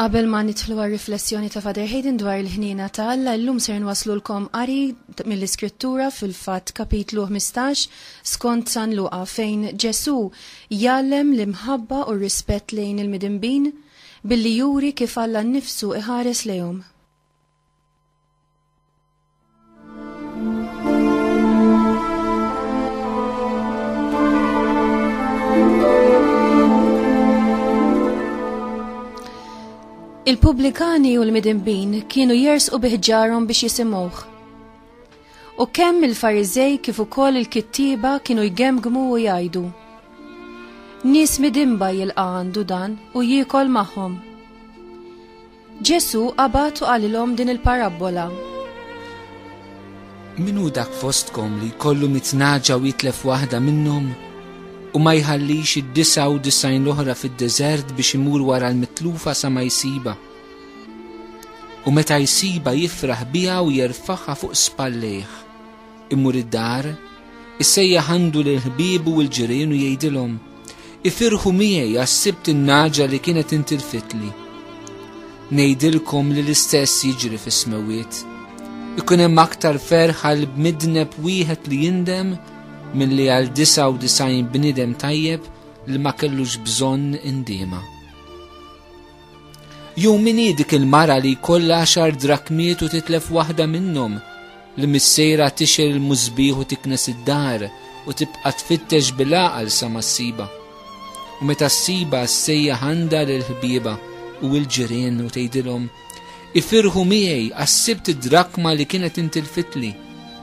Qabel ma nidħlu għal riflessjoni ta' Father Hayden dwar il-ħnina ta' Alla, illum ser nwaslulkom qari mill-Iskrittura fil-fatt kapitlu 15 skont San Luqa fejn Ġesu jallem l-imħabba u r-rispett lejn il-midinbin billi juri kif Alla nnifsu iħares lejhom. Il-pubblikani u l-midinbin kienu jers u biħġarhom biex jisimuħ. U kemm il-farizej kif ukoll il-kittiba kienu jgemgmu u jgħidu. Nis midinba jilqa għandu dan u jiekol magħhom. Ġesù qabad u qalilhom din il-parabbola. Min hu dak fostkom li jkollu mit naġa u jitlef waħda minnhom u ma jħallix id-disa u disajn l-oħra fid-deżert biex imur wara l-mitlufa sa ma jsiba. U meta jsiba jifraħ biha u jerfaħha fuq spallejh. Imur id-dar, issejjaħ għandu lil ħbiebu u l-ġirien u jgħidilhom, Ifirħu miegħi għas-sibt in-naġa li kienet intilfitli. Ngħidilkom li l-istess jiġri fis-smewiet. Ikun hemm aktar ferħ għal bmidneb wieħed li jindem milli għal 99 bniedem tajjeb li ma kellux bżonn indiema. Jew min hi dik il-mara li jkollha għaxar drakmiet u titlef waħda minnhom, li missejra tixel il-musbieħ u tiknes id-dar u tibqa' tfittex bil-għaqal sa ma ssiba. U meta ssiba ssejjaħ għandha lil ħbieba u l-ġirien u tgħidilhom, Ifirħu miegħi għax sibt id-drakma li kienet intilfitli.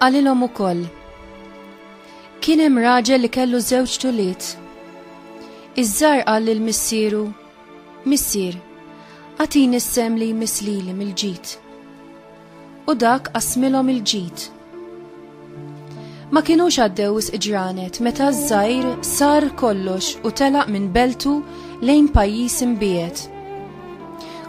Qalilhom ukoll. Kien hemm raġel li kellu żewġ tuliet. Iż-żar qal lil missieru, Missier, għatini s-sem li jmiss lili mill-ġid. U dak qasmilhom il-ġid. Ma kinux għaddew is ġranet meta ż-żgħir sar kollox u telaq minn beltu lejn pajjiż imbiegħed.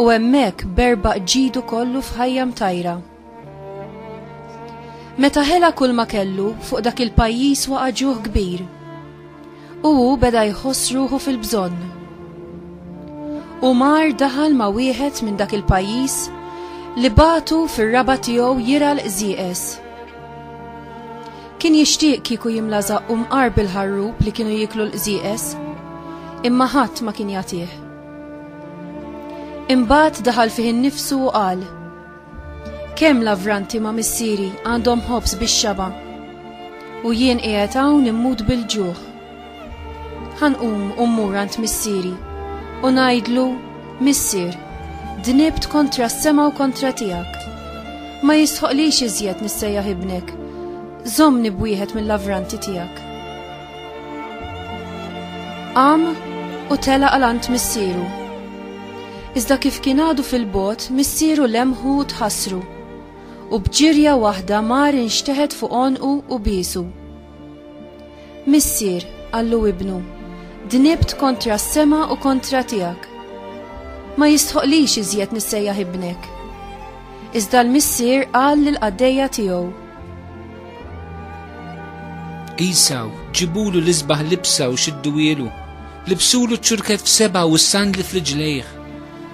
U hemmhekk berba ġidu kollu f'ħajja mtajra. Meta ħela kull ma kellu fuq dak il-pajjiż waqa' ġuħ kbir. U hu beda jħoss ruħu fil-bżonn. U mar daħal ma' wieħed minn dak il-pajjiż li batu fir-raba tiegħu jira l-qżieqes. Kien jixtieq kieku jimla zaqqum qar bil-ħarrub li kienu jiklu l-qżieqes, imma ħadd ma kien jagħtih. Imbagħad daħal fih innifsu u qal, Kemm lavranti ma' missieri għandhom ħobż bix-xaba' u jien qiegħed hawn immut bil-ġuħ. Ħanqum u mmur għand missieri u ngħidlu, Missier, dnibt kontra s-sema u kontra tiegħek. Ma jistħoqlix iżjed nissejjaħ ibnek. Żommni b'wieħed mill-lavranti tiegħek. Qam u tela għalant missieru. Iżda kif kien għadu fil-bot, missieru lemħu u tħassru. U bġirja waħda mar inxteħet fuq onqu u bisu. Missier, għallu ibnu, dnibt kontra s-sema u kontra tiegħek. Ma jistħoqlix iżjed nissejjaħ ibnek. Iżda l-missier qal lil qaddejja tiegħu Isaw, ġibulu l-isbaħ libsa u xidduwielu, libsulu ċurket f'seba u s-sandli fl-ġlejħ,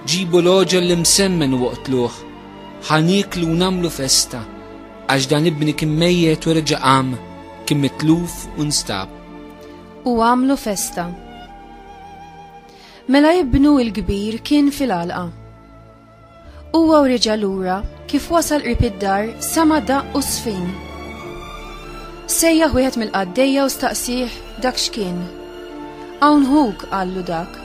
ġibu l-oġel li msemmen u waqtluħ, ħanik lu namlu festa, għax dan ibni kim mejjet u reġa għam, kim mitluf u nstab. U għamlu festa. Mela ibnu il-kbir kien fil-alqa Huwa u reġa' lura kif wasal qrib id-dar sema' daqq u sfin. Sejjaħ wieħed mill-qaddejja u staqsih dak x'kien. Hawn ħuk qallu dak.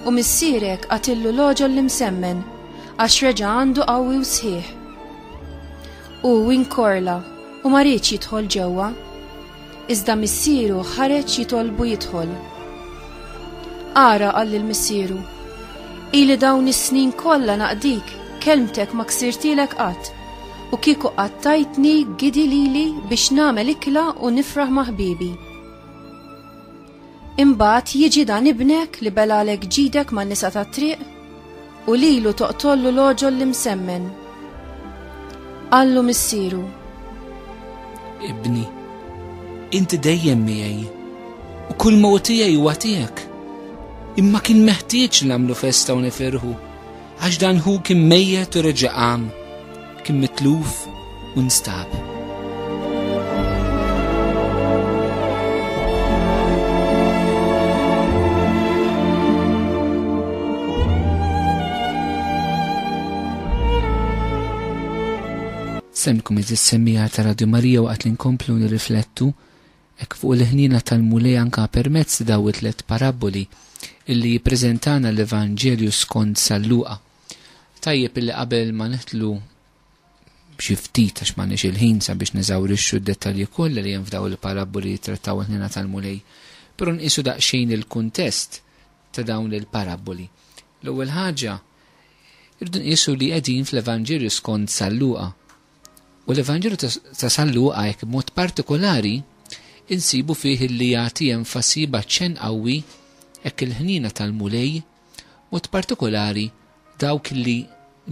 U missierek qatillu l-oġol li msemmen għax reġa' għandu qawwi u sħiħ. U inkorla u ma riedx jidħol ġewwa. Iżda missieru ħareġ jitolbu jidħol. Ara qal lil missieru, Ili dawn is-snin kollha naqdik, kelmtek ma ksirtilek qatt, u kieku qattajtni gidi lili biex nagħmel ikla u nifraħ ma' ħbiebi. Imbagħad jiġi dan ibnek li belalek ġidek man-nisa tat-triq u lilu toqtollu l-għoġol li msemmen. Qallu missieru. Ibni, inti dejjem miegħi u kull ma tiegħi huwa tiegħek. Imma kien meħtieġ nagħmlu festa u nifirħu Għax dan hu kien mejjet u reġa' qam, kien mitluf u nstab. Semmikom iżis semmija ta' Radio Marija waqt li nkomplu nirriflettu Hekk fuq il-ħniena tal-Mulej anka permezz daw it-tliet parabboli illi jippreżentana l-Evanġelju skond San Luqa. Tajjeb illi qabel ma nidħlu b'xi ftit għax m'għandniex il-ħin sabiex neżawrixxu d-dettalji kollha li hemm f'daw il-parabboli li jittrattaw il-ħniena tal-Mulej, però nqisu daqsxejn il-kuntest ta' dawn il-parabboli. L-ewwel ħaġa, irdu nqisu li qegħdin fl-Evanġelju skond San Luqa. U l-Evanġelu ta' San Luqa hekk b'mod partikolari insibu fih illi jagħti enfasi b'aċċenn qawwi hekk il-ħniena tal-Mulej, mod partikolari dawk li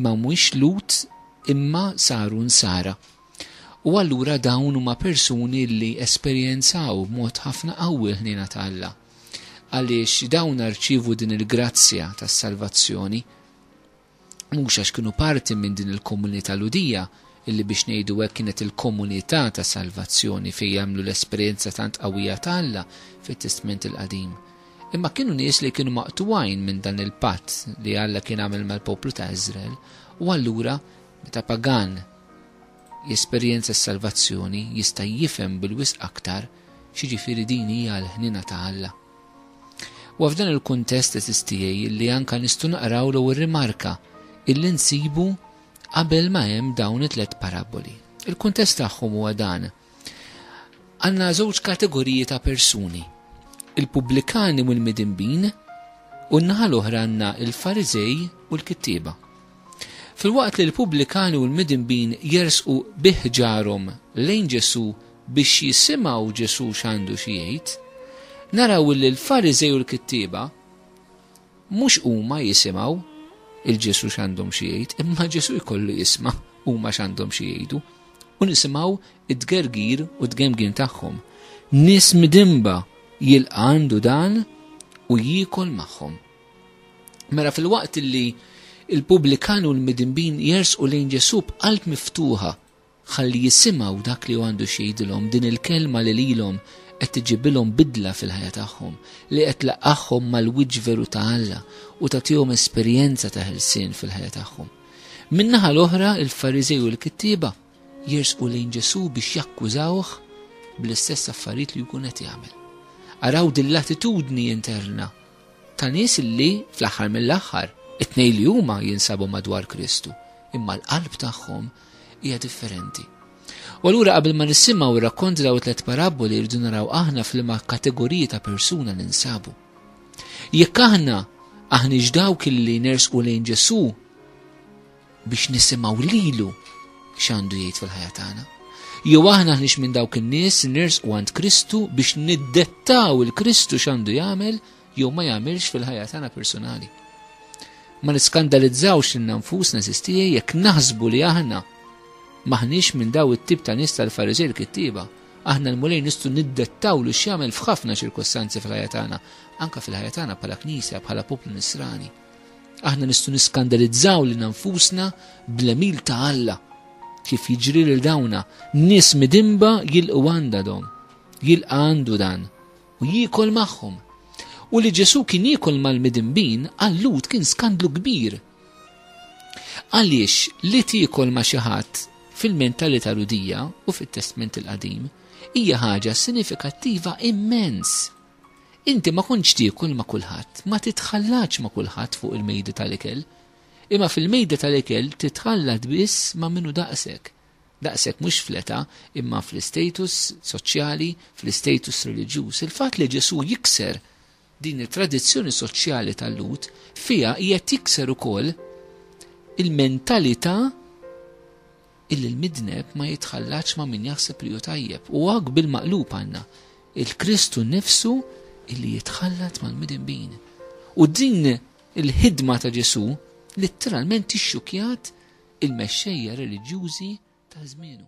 ma mhuwiex Lhud imma saru Nsara. U allura dawn huma persuni li esperjenzaw b'mod ħafna qawwi l-ħniena ta' Alla, għaliex dawn rċievu din il-grazzja tas-salvazzjoni. mhux għax kienu parti minn din il-komunità Lhudija, illi biex ngħidu hekk kienet il-komunità ta' salvazzjoni fejn għamlu l-esperjenza tant qawwija ta' Alla fit-Testment il-Qadim, imma kienu nies li kienu maqtugħin minn dan il-patt li Alla kien għamel mal-poplu ta' Iżrael, u allura meta pagan jesperjenza s-salvazzjoni jista' jifhem bil-wisq aktar x'jiġifieri din hija l-ħniena ta' Alla. Huwa f'dan il-kuntest eżiż tiegħi li anke nistgħu naqraw l-ewwel rimarka illi nsibu qabel ma hemm dawn it-tliet parabboli. Il-kuntest tagħhom huwa dan. Għandna żewġ kategoriji ta' persuni, il-pubblikani u l-midinbin, u n-naħa l-oħra għandna il-Fariżej u l-kittieba. Filwaqt li l-pubblikani u l-midinbin jersqu biħġarhom lejn Ġesù biex jisimgħu Ġesù x'għandu xi jgħid, naraw illi l-Fariżej u l-kittieba mhux huma jisimgħu il Ġesù x'għandhom xi jgħid, imma Ġesù jkollu jisma' huma x'għandhom xi jgħidu u nisimgħu id-dgergir u d-gemgin tagħhom. Nies midimba jilqa' għandu dan u jiekol magħhom. Mela fil-waqt li il-pubblikan u l-midimbin jersqu lejn Ġesù b'qalb miftuħa Ħalli jisimgħu dak li hu għandu xi jgħidilhom, din il-Kelma li lilhom qed tiġibilhom bidla fil-ħajja tagħhom, li qed tlaqqagħhom mal-wiċċ veru ta' Alla u tagħtihom esperjenza ta' ħelsien fil-ħajja tagħhom. Min-naħa l-oħra, il-Fariżej u l-kittieba jersqu lejn Ġesù biex jakkużawh bl-istess affarijiet li jkun qed jagħmel. Araw din l-attitudni interna ta' nies li fl-aħħar mill-aħħar it-tnejn li huma jinsabu madwar Kristu, imma l-qalb tagħhom hija differenti. U allura qabel ma nisimgħu r-rakkont daw it-tliet parabboli rridu naraw aħna f'liema kategoriji ta' persuna li nsabu. Jekk aħna aħniex dawk illi nersqu lejn Ġesù biex nisimgħu lilu x'għandu jgħid fil-ħajja tagħna. Jew aħna aħniex minn dawk in-nies nersqu għand Kristu biex niddettaw il-Kristu x'għandu jagħmel jew ma jagħmilx fil-ħajja tagħna personali. Ma niskandalizzawx lil nfusna sistijie jekk naħsbu li aħna maħniex minn daw it-tip ta' nies tal-Fariżej l-kittieba. Aħna l-mulej nistgħu niddettaw li x'jagħmel f'ħafna ċirkostanzi fil-ħajja tagħna, anke fil-ħajja tagħna bħala knisja, bħala poplu nisrani. Aħna nistgħu niskandalizzaw lil nfusna bl-emil ta' Alla kif jiġri lil dawna, nies midimba jilqu għandadhom, jilqa' għandu dan u jiekol magħhom. U li Ġesù kien jiekol mal-midinbin għal Lhud kien skandlu kbir. Għaliex li tiekol ma' xi ħadd fil-mentalità Lhudija u fit-Testment il-Qadim hija ħaġa sinifikattiva immens. Inti ma kontx tiekol ma' kulħadd, ma titħallax ma' kulħadd fuq il-mejda tal-ikel, imma fil-mejda tal-ikel titħallat biss ma' minnu daqshekk. Daqshekk mhux fl-età, imma fl-istatus soċjali, fl-istatus reliġjuż. Il-fatt li Ġesù jikser din it-tradizzjoni soċjali tal-Lhud, fiha qiegħed jikser ukoll il-mentalità illi l-midneb ma jitħallatx ma' min jaħseb li hu tajjeb. U hawn bil-maqlub għandna il-Kristu nnifsu illi jitħallat mal-midinbin. U din Il-ħidma ta' Ġesù litteralment ixxukkjat il-mexxejja reliġjużi ta' żmienu.